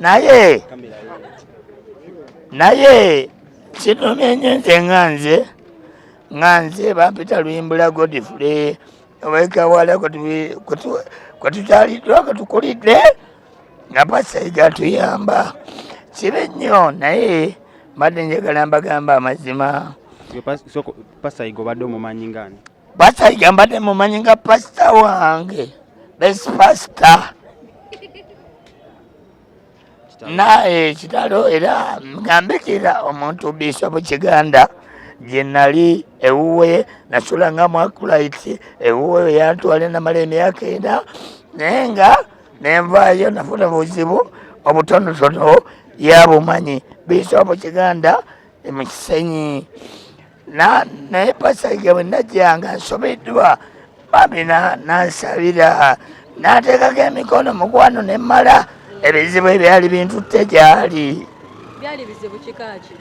naye naye kinumye nyo nze nga nze nga nze bampita luyimbula godifule obaikawala kwetutaliddwa kwetukulidde nga pasaiga tuyamba kibi nnyo naye mbadde njagala mbagamba amazima pasaiga obadde omumanyi ngaani basajja mbadde mumanyi nga pasita wange best pasita naye kitalo era ngambikira omuntu bisobu kiganda gye nali ewuwe nasula nga mwakulaiti ewuwe yantwale namala emyaka ena naye nga nenvaayo nafuna buzibu obutonotono yabumanyi bisobu kiganda emukisenyi naye pasajja bwe najjanga nsobeddwa bambi nansabira nateekako emikono mukwano ne mmala ebizibu ebyali bintutte gyali byali bizibu kikaaki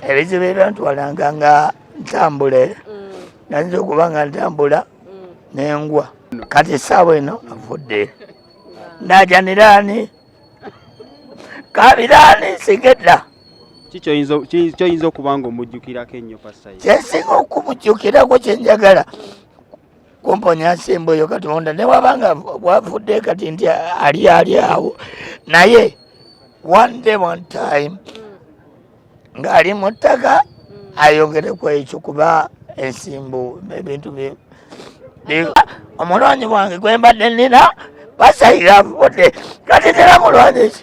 ebizibu ebyantwalanga nga ntambule mm. nayinza okuba nga ntambula mm. nengwa kati esaawa eno avudde najaniraani kabiraani nsigedda kyoyinza okuba nga omujjukirako ennyo pasayi kyensinga okumujjukirako kyenjagala kumponya nsimba oyo katonda newaba nga wavudde kati nti ali ali awo naye one day one time ng'ali mu ttaka mm. ayogere ku ekyo kuba ensimbu ebintu bye omulwanyi wange gwembadde nina basayira avudde kati tera mulwanyi ki